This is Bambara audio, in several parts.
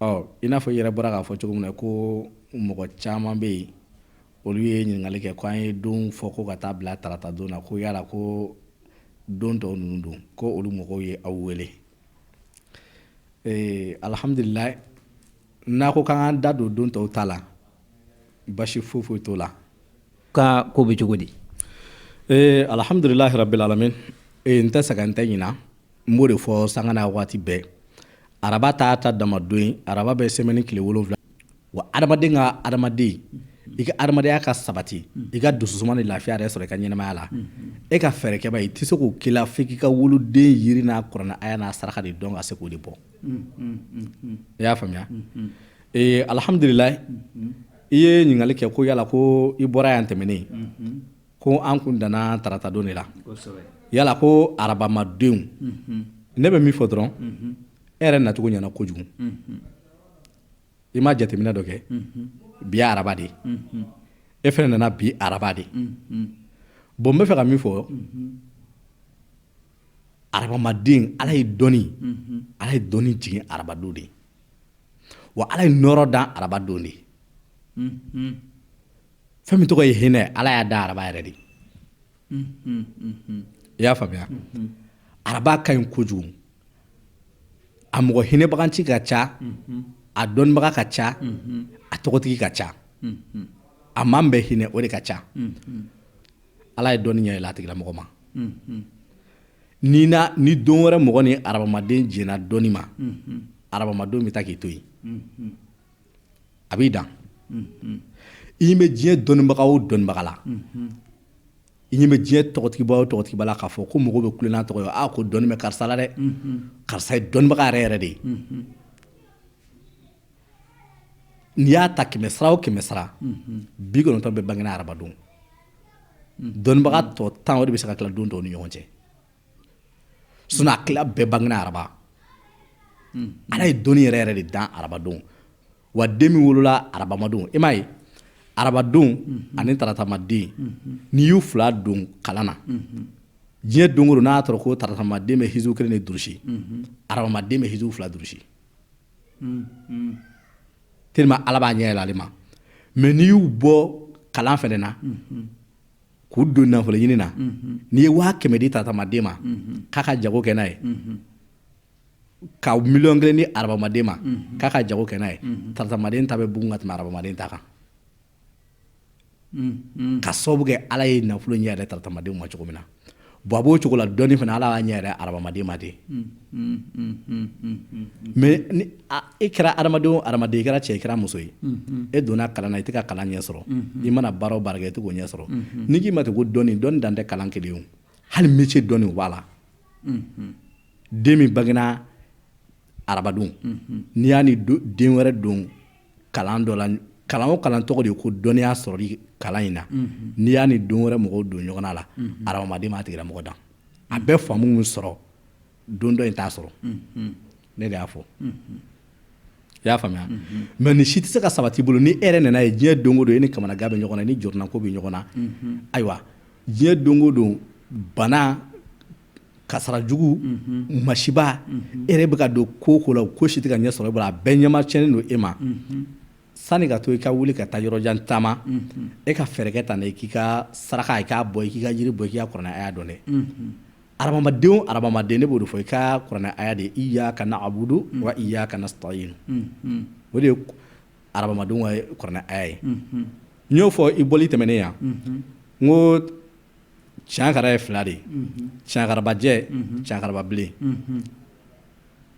Ɔ i n'a fɔ i yɛrɛ bɔra k'a fɔ cogo min na ko mɔgɔ caman bɛ yen olu ye ɲininkali kɛ ko an ye don fɔ ko ka taa bila taratadon na ko yala ko don tɔw ninnu don ko olu mɔgɔw ye aw wele ee alihamdulila n'a ko k'an da don don tɔw ta la basi fo foyi t'o la k'a ko bɛ cogo di ee alihamdulilayi rabil alamin n tɛ sɛgɛn n tɛ ɲina n b'o de fɔ sanga n'a waati bɛɛ araba t'a ta dama don ye araba bɛ sɛmɛni tile wolonwula wa adamaden ka adamaden i ka adamadenya ka sabati i ka dususuma ni lafiya yɛrɛ sɔrɔ i ka ɲɛnamaya la e ka fɛɛrɛkɛba i tɛ se k'o k'i la f'i k'i ka wolodon yiri n'a kuranɛ aya n'a saraka de dɔn ka se k'o de bɔ i y'a faamuya alihamudulila i ye ɲininkali kɛ ko yala ko i bɔra yan tɛmɛnen ko an kun danna taratadon de la yala ko arabamadenw ne bɛ min fɔ dɔrɔn e yɛrɛ nacogo ɲɛna kojugu i ma jateminɛ dɔ kɛ bi araba de e fɛnɛ nana bi araba de bon n bɛ fɛ ka min fɔ arabamaden ala ye dɔnni ala ye dɔnni jigin arabadon de wa ala ye nɔɔrɔ dan arabadon de fɛn min tɔgɔ ye hinɛ ala y'a da araba yɛrɛ de i y'a faamuya araba ka ɲi kojugu a mɔgɔ hinɛbaganci ka ca a dɔnnibaga ka ca a tɔgɔtigi ka ca a man bɛ hinɛ o de ka ca ala ye dɔnni ɲɛ yɛlɛ a tigilamɔgɔ ma ni na ni don wɛrɛ mɔgɔ ni arabamaden jɛnna dɔnni ma arabamadenw bɛ taa k'i to yen a b'i dan i ɲɛ bɛ diɲɛ dɔnnibaga o dɔnnibaga la i ɲɛ bɛ diɲɛ tɔgɔtigiba o tɔgɔtigiba la k'a fɔ ko mɔgɔw bɛ kule n'a tɔgɔ ye ko dɔnni bɛ karisa la dɛ karisa ye dɔnnibaga yɛrɛ yɛrɛ de ye n'i y'a ta kɛmɛsara o kɛmɛsara bi kɔnɔntɔn bɛɛ bangena arabadon dɔnnibaga tɔ tan o de bɛ se ka tila don tɔw ni ɲɔgɔn cɛ sinon a tila bɛɛ bangena araba hmm. ala ye dɔnni yɛrɛ yɛrɛ de dan arabadon wa den min wolola arabamadon i m'a ye arabadon hmm. ani taratamaden hmm. n'i y'u fila don kalan na diɲɛ don o don n'a sɔrɔ ko taratamaden bɛ hizu kelen de durusi arabamaden bɛ hizu fila durusi tellement ala b'a ɲɛ yɛlɛ ale ma mais n'i y'u bɔ kalan fɛnɛ na k'u don nafolo ɲini na n'i ye waa kɛmɛ di taratamaden ma k'a ka jago kɛ n'a ye ka miliyɔn kelen di arabamaden ma k'a ka jago kɛ n'a ye taratamaden ta bɛ bugun ka tɛmɛ arabamaden ta kan ka sababu kɛ ala ye nafolo ɲɛ yɛlɛ taratamadenw ma cogo min na Bon a b'o cogo la dɔnni fana ala y'a ɲɛ yɛrɛ arabamaden ma de mɛ e kɛra hadamaden hadamaden i kɛra cɛ i kɛra muso ye e donna kalan na i tɛ ka kalan ɲɛ sɔrɔ i mana baara o baara kɛ i tɛ k'o ɲɛ sɔrɔ ni k'i ma tɛ ko dɔnni dɔn dan tɛ kalan kelen hali métier dɔnni o b'a la den min bangena arabadon n'i y'a ni den wɛrɛ don kalan dɔ la kalan o kalan tɔgɔ de ye ko dɔnniya sɔrɔli kalan in na mhm. n'i y'a ni don wɛrɛ mɔgɔw don ɲɔgɔnna la mhm. arabamaden b'a tigila mɔgɔ dan a mhm. bɛ faamu min sɔrɔ don dɔ in t'a sɔrɔ ne de y'a fɔ i y'a faamuya mɛ nin si tɛ se ka sabati bolo ni e yɛrɛ nana ye diɲɛ don o don e ni kamanagan bɛ ɲɔgɔn na ni jɔrɔnako bɛ ɲɔgɔn na ayiwa diɲɛ don o don bana kasara jugu masiba e yɛrɛ bɛ ka don ko o ko la ko si tɛ ka ɲɛ sɔrɔ e bolo a bɛɛ ɲɛma cɛnnen don e ma sani ka to i ka wuli ka taa yɔrɔjan taama e ka fɛɛrɛ kɛ tan i k'i ka saraka k'a bɔ i k'i ka jiri bɔ i k'i ka kuranɛ aya dɔn dɛ arabamaden ne b'o fɔ i ka kuranɛ aya de iyyaka na'budu wa iyyaka nasta'inu o de ye arabamadenw ka kuranɛ aya ye n y'o fɔ i bɔli tɛmɛnen yan n ko cankara ye fila de ye cankarabajɛ cankarababilen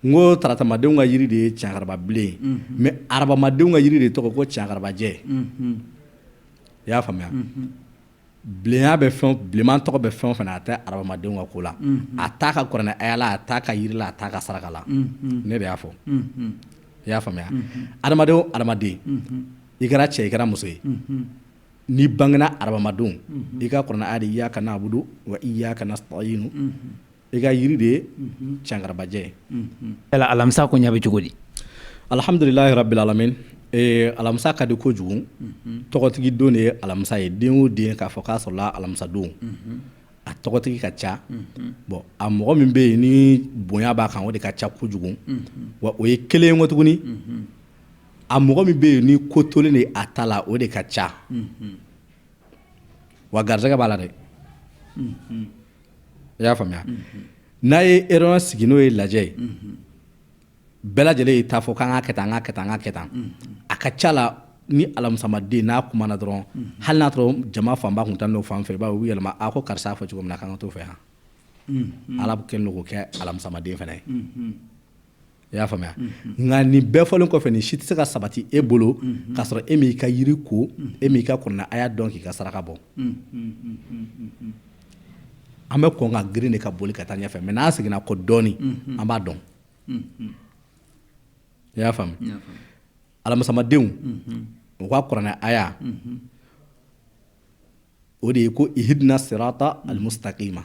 n ko taratamadenw ka jiri de ye cankarababilen mɛ arabamadenw ka jiri de tɔgɔ ko cankarabajɛ i y'a faamuya bilenya bɛ fɛn bilenman tɔgɔ bɛ fɛn o fɛn na a tɛ arabamadenw ka ko la a t'a ka kuranɛ aya la a t'a ka jiri la a t'a ka saraka la ne de y'a fɔ i y'a faamuya adamaden adamaden i kɛra cɛ i kɛra muso ye N'i bangena arabamadon i ka kuranɛ aya de iyyaka na'budu wa iyyaka nasta'inu i ka yiri de ye cankarabajɛ ye alamisa ko ɲa bɛ cogo di alihamdulilahi rabili alamini alamisa ka di kojugu tɔgɔtigi don de ye alamisa ye den o den k'a fɔ k'a sɔrɔla alamisadon a tɔgɔtigi ka ca bɔn a mɔgɔ min bɛ yen ni bonya b'a kan o de ka ca kojugu wa o ye kelen ye ko tuguni a mɔgɔ min bɛ yen ni ko tolen de a ta la o de ka ca wa garisɛgɛ b'a la dɛ i y'a faamuya n'a ye réunion sigi n'o ye lajɛ ye bɛɛ lajɛlen y'i ta fɔ k'an ka kɛ tan an ka kɛ tan an ka kɛ tan a ka ca la ni alamisamaden n'a kumana dɔrɔn hali n'a sɔrɔ jama fanba tun taa n'o fan fɛ i b'a ye u bɛ yɛlɛma a ko karisa y'a fɔ cogo min na k'an ka t'o fɛ yan ala kɛlen don k'o kɛ alamisamaden fana ye i y'a faamuya nka nin bɛɛ fɔlen kɔfɛ nin si tɛ se ka sabati e bolo k'a sɔrɔ e m'i ka yiri ko e m'i ka kuranɛ aya dɔn k'i ka saraka bɔ an bɛ kɔn ka girin de ka boli ka taa ɲɛfɛ mɛ n'an seginna kɔ dɔɔnin an b'a dɔn i y'a faamu alamisamadenw u ka kuranɛ aya o de ye ko ihidina sirata alimusitakima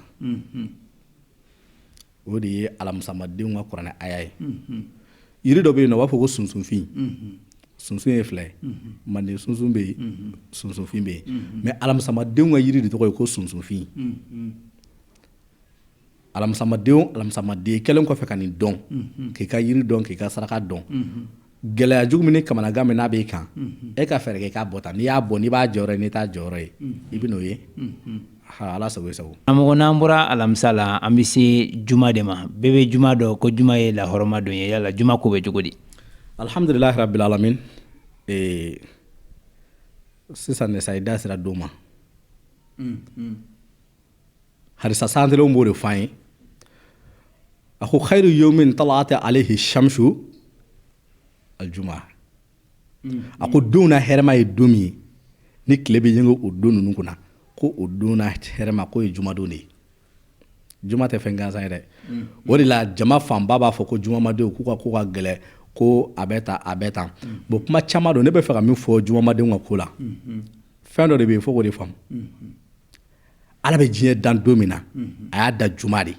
o de ye alamisamadenw ka kuranɛ aya ye yiri dɔ bɛ yen nɔ u b'a fɔ ko sunsunfin sunsun ye fila ye manden sunsun bɛ yen sunsunfin bɛ yen mɛ alamisamadenw ka yiri de tɔgɔ ye ko sunsunfin alamisamaden alamisamaden kɛlen kɔfɛ ka nin dɔn k'i ka yiri dɔn k'i ka saraka dɔn gɛlɛya jugu min ni kamanagan min n'a b'i kan e ka fɛɛrɛ kɛ i k'a bɔ tan n'i y'a bɔ n'i b'a jɔyɔrɔ ye n'i t'a jɔyɔrɔ ye i bɛ n'o ye ha ala sago i sago karamɔgɔ n'an bɔra alamisa la an bɛ se juma de ma bɛɛ bɛ juma dɔn ko juma ye lahɔrɔma don ye yala juma ko bɛ cogo di alihamdulilahi rabil alamin ee, sisan de sa i da sera don ma hadisa sabatilenw b'o de fɔ an ye a ko xayiru yomin tala'at alehi shamsu aljuma a ko don na hɛrɛma ye don min ye ni tile bɛ yenge o don ninnu kunna ko o don na hɛrɛma k'o ye jumadon de ye juma tɛ fɛn gansan ye dɛ o de la jama fanba b'a fɔ ko jumamadenw k'u ka ko ka gɛlɛ ko a bɛ tan a bɛ tan bon kuma caman don ne bɛ fɛ ka min fɔ jumamadenw ka ko la fɛn dɔ de bɛ yen fo k'o de faamu ala bɛ diɲɛ dan don min na a y'a da juma de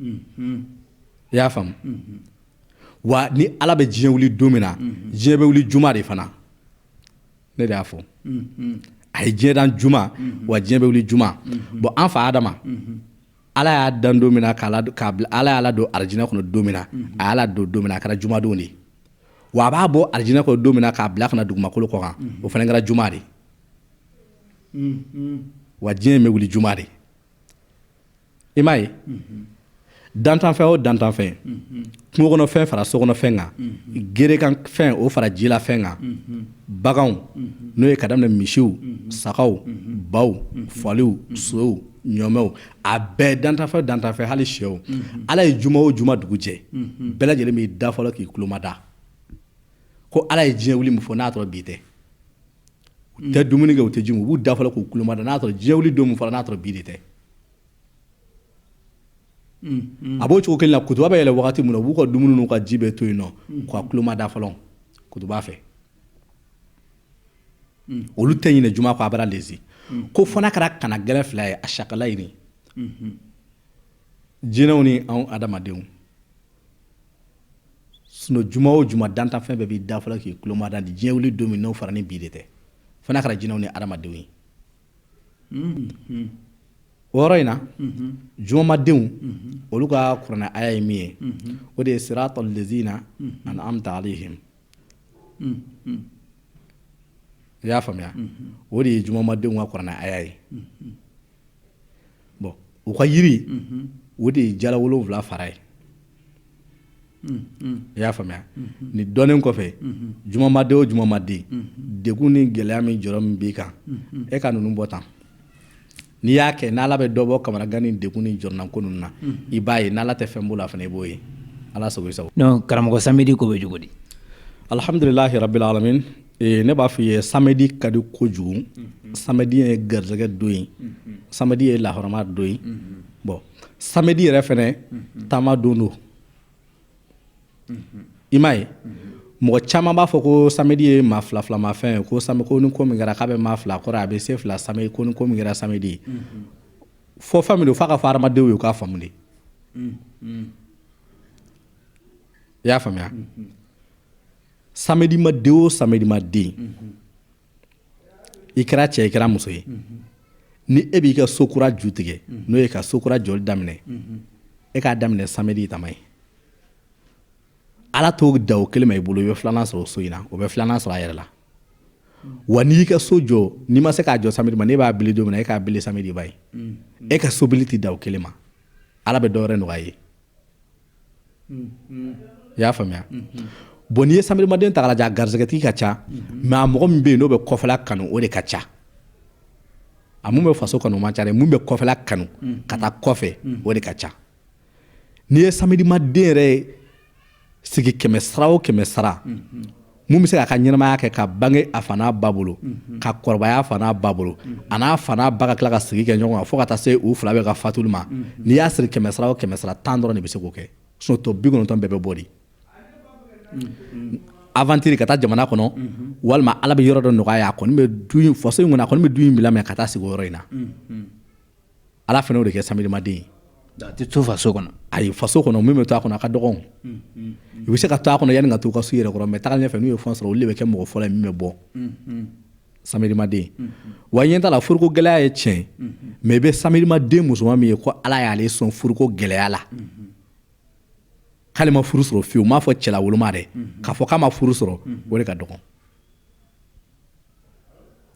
i y'a faamu wa ni ala bɛ diɲɛ wili don min na diɲɛ bɛ wuli juma de fana ne de y'a fɔ a ye diɲɛ dan juma wa diɲɛ bɛ wuli juma bon an fa adama ala y'a dan don min na ala y'a ladon arijinɛ kɔnɔ don min na a y'a ladon don min na a kɛra jumadon de wa a b'a bɔ arijinɛ kɔnɔ don min k'a bila ka na dugumakolo kɔ kan o fana kɛra juma de wa diɲɛ bɛ wuli juma de i m'a ye dantanfɛn o dantanfɛn kungokɔnɔfɛn fara sokɔnɔfɛn kan gerekanfɛn o fara jilafɛn kan baganw n'o ye ka daminɛ misiw sagaw baw faliw sow ɲɔmɛw a bɛɛ dantanfɛn dantanfɛn hali sew ala ye juma o juma dugu jɛ bɛɛ lajɛlen b'i da fɔlɔ k'i kulomada ko ala ye diɲɛ wuli min fɔ n'a sɔrɔ bi tɛ u tɛ dumuni kɛ u tɛ ji min u b'u da fɔlɔ k'u kulomada n'a sɔrɔ diɲɛ wuli don min fɔra n'a sɔrɔ bi de tɛ a b'o cogo kelen na kutuba bɛ yɛlɛ waati min na u b'u ka dumuni n'u ka ji bɛɛ to yen nɔ k'a kulomada fɔlɔ kutuba fɛ olu tɛ ɲinɛ juma kɔ a bara lese ko fo n'a kɛra kana gɛlɛn fila ye asakalayini jinɛw ni anw adamadenw sinon juma o juma dantanfɛn bɛɛ b'i da fɔlɔ k'i tulomada ni diɲɛ wuli don min n'o fɔra ni bi de tɛ fo n'a kɛra jinɛw ni adamadenw ye mm-hmm. o yɔrɔ in na mm-hmm. jumamadenw mm-hmm. olu ka kuranɛ aya ye min ye o de ye siratal lezina an'amta alayhim i y'a faamuya o de ye jumamadenw ka kuranɛ aya ye bɔn u ka yiri o de ye jala wolowula fara ye i y'a faamuya ni dɔnnen kɔfɛ jumamaden o jumamaden degun ni gɛlɛya min jɔrɔ min b'i kan e ka ninnu bɔ tan n'i y'a kɛ n'ala bɛ dɔ bɔ kamanagan ni degun ni jɔrɔnanko ninnu na i b'a ye n'ala tɛ fɛn bɔ o la fana i b'o ye ala sago i sago karamɔgɔ samedi ko bɛ cogo di alihamdulilahi rabil alamin Ee ne b'a fɔ i ye samedi ka di kojugu samedi ye garisɛgɛ don ye samedi ye lahɔrɔma don ye bɔn samedi yɛrɛ fana taama don don i m'a ye mɔgɔ caman b'a fɔ ko samedi ye maa filamafɛn ye ko samedi ko ni ko min kɛra k'a bɛ maa fila kɔrɔ a bɛ se fila samedi ko ni ko min kɛra samedi fɔ fɛn min don f'a ka fɔ hadamadenw ye u k'a faamu de i y'a faamuya samedimaden o samedimaden i kɛra cɛ i kɛra muso ye ni e b'i ka so kura ju tigɛ n'o ye ka so kura jɔli daminɛ e k'a daminɛ samedi tama ye ala t'o da o kelen ma i bolo i bɛ filanan sɔrɔ o so in na o bɛ filanan sɔrɔ a yɛrɛ la wa n'i y'i ka so jɔ n'i ma se k'a jɔ samedi ma n'e b'a bili don min na e k'a bili samedi ba ye e ka sobili tɛ da o kelen ma ala bɛ dɔ wɛrɛ nɔgɔya i ye i y'a faamuya bon n'i ye samedimaden ta k'a lajɛ a garisɛgɛtigi ka ca mɛ a mɔgɔ min bɛ yen n'o bɛ kɔfɛla kanu o de ka ca a min bɛ faso kanu o man ca dɛ min bɛ kɔfɛla kanu ka taa kɔfɛ o de ka ca n'i ye samedimaden yɛrɛ sigi kɛmɛ sara o kɛmɛ sara mun bɛ se k'a ka ɲɛnamaya kɛ ka bange a fa n'a ba bolo mhm. ka kɔrɔbaya a fa n'a ba bolo mhm. a n'a fa n'a ba ka tila ka sigi kɛ ɲɔgɔn kan fo ka taa se u fila bɛɛ ka fatuli ma mhm. n'i y'a siri kɛmɛ sara o kɛmɛ sara tan dɔrɔn de bɛ se k'o kɛ o tɔ bi kɔnɔntɔn bɛɛ bɛ bɔ de avantiri ka taa jamana kɔnɔ walima ala bɛ yɔrɔ dɔ nɔgɔya a kɔni bɛ du in faso in kɔnɔ a kɔni bɛ du in bila mɛ ka taa sigi o yɔrɔ in na Ala fana y'o de kɛ samedimaden ye a tɛ to faso kɔnɔ ayi faso kɔnɔ min bɛ to a kɔnɔ a ka dɔgɔn i bɛ se ka to a kɔnɔ yanni ka to ka so yɛrɛ kɔnɔ mɛ taa ɲɛ fɛ n'u ye fɛn sɔrɔ olu de bɛ kɛ mɔgɔ fɔlɔ ye min bɛ bɔ samedimaden wa ɲɛ t'a la furuko gɛlɛya ye tiɲɛ mɛ i bɛ samedimaden musoman min ye ko ala y'ale sɔn furuko gɛlɛya la k'ale ma furu sɔrɔ fiyewu m'a fɔ cɛla woloma dɛ k'a fɔ k'a ma furu sɔrɔ o de ka dɔgɔn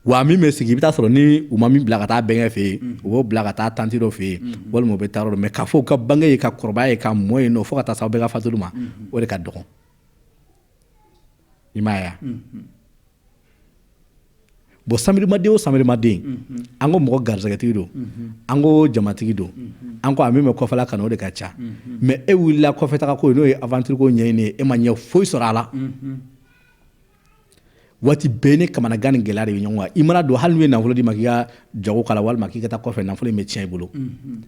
wa min bɛ sigi i bɛ taa sɔrɔ ni u ma min bila ka taa bɛnkɛ fɛ yen u b'o bila ka taa tanti dɔ fɛ yen walima u bɛ taa yɔrɔ dɔ mɛ k'a fɔ u ka bange ye ka kɔrɔbaya ye ka mɔ ye fo ka taa se u bɛɛ ka fatuli ma o de ka dɔgɔn i m'a ye bon samedi maden o samedi maden an ko mɔgɔ garisɛgɛtigi don an ko jamatigi don an ko a min bɛ kɔfɛla kanu o de ka ca mɛ e wulila kɔfɛtaa ko n'o ye aventure ko ɲɛɲini ye e ma ɲɛ foyi sɔrɔ a la waati bɛɛ ni kamanagan ni gɛlɛya de bɛ ɲɔgɔn kan i mana don hali n'u ye nafolo d'i ma k'i ka jago k'a la walima k'i ka taa kɔfɛ nafolo in bɛ tiɲɛ i bolo mm-hmm.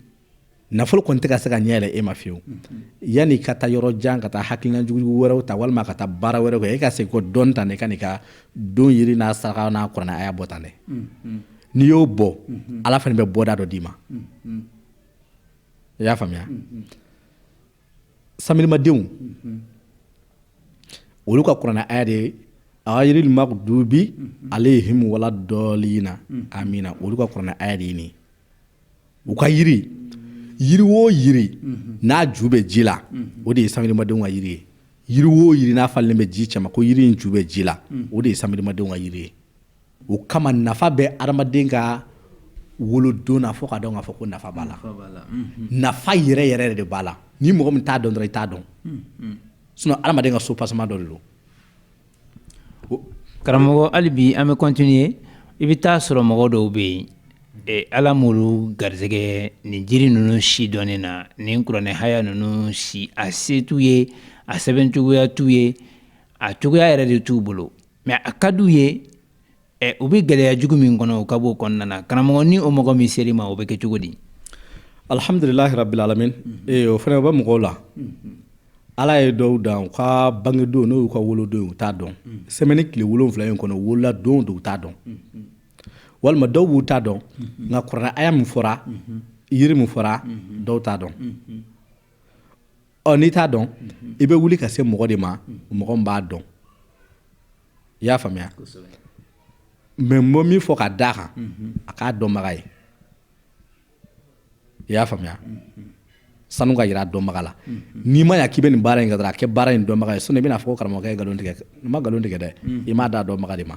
nafolo kɔni tɛ ka se ka ɲɛ yɛlɛ e ma fiyewu mm-hmm. yanni ka taa yɔrɔ jan ka taa hakilina jugujugu wɛrɛw ta walima ka taa baara wɛrɛw kɛ e ka segin kɔ dɔɔni tan dɛ ka n'i ka don yiri n'a saraka n'a kuranɛ aya bɔ tan dɛ mm-hmm. n'i y'o bɔ ala fana bɛ bɔda dɔ d'i ma i y'a faamuya samedi madenw olu ka kuranɛ aya de ye ayirili magidubi aleyihimu wala dɔɔlina amina olu ka kuranɛ aya de ye nin u ka yiri yiri o yiri n'a ju bɛ ji la o de ye samedi madenw ka yiri ye yiri o yiri n'a falen bɛ ji cɛma ko yiri in ju bɛ ji la o de ye samedi madenw ka yiri ye o kama nafa bɛ adamaden ka wolodon na fo k'a dɔn k'a fɔ ko nafa b'a la nafa yɛrɛ yɛrɛ yɛrɛ de b'a la ni mɔgɔ min t'a dɔn dɔrɔn i t'a dɔn sinon adamaden ka soubassement dɔ de don karamɔgɔ hali bi an bɛ continuer i bɛ taa sɔrɔ mɔgɔ dɔw bɛ yen e, ala m'olu garisɛgɛ nin jiri ninnu si dɔnni na nin kuranɛ haya ninnu si a se t'u ye a sɛbɛn cogoya t'u ye a cogoya yɛrɛ de t'u bolo mɛ a ka d'u ye ɛ u bɛ gɛlɛya jugu min kɔnɔ u ka bɔ o kɔnɔna na karamɔgɔ ni o mɔgɔ min ser'i ma o bɛ kɛ cogo di alihamdulilahi rabilalamin o fana u bɛ mɔgɔw la ala ye dɔw dan u ka bangedon n'o y'u ka wolodon u t'a dɔn semaine tile wolonwula in kɔnɔ wolola don don u t'a dɔn walima dɔw b'u t'a dɔn nka kuranɛ aya min fɔra yiri min fɔra dɔw t'a dɔn ɔ n'i t'a dɔn i bɛ wuli ka se mɔgɔ de ma mɔgɔ min b'a dɔn i y'a faamuya mɛ n bɛ min fɔ ka d'a kan a k'a dɔnbaga ye i y'a faamuya sanu ka jira a dɔnbaga la n'i ma ya k'i bɛ nin baara in kɛ a kɛ baara in dɔnbaga ye sinon i bɛna fɔ karamɔgɔkɛ ye nkalon tigɛ n ma nkalon tigɛ dɛ i m'a da dɔnbaga de ma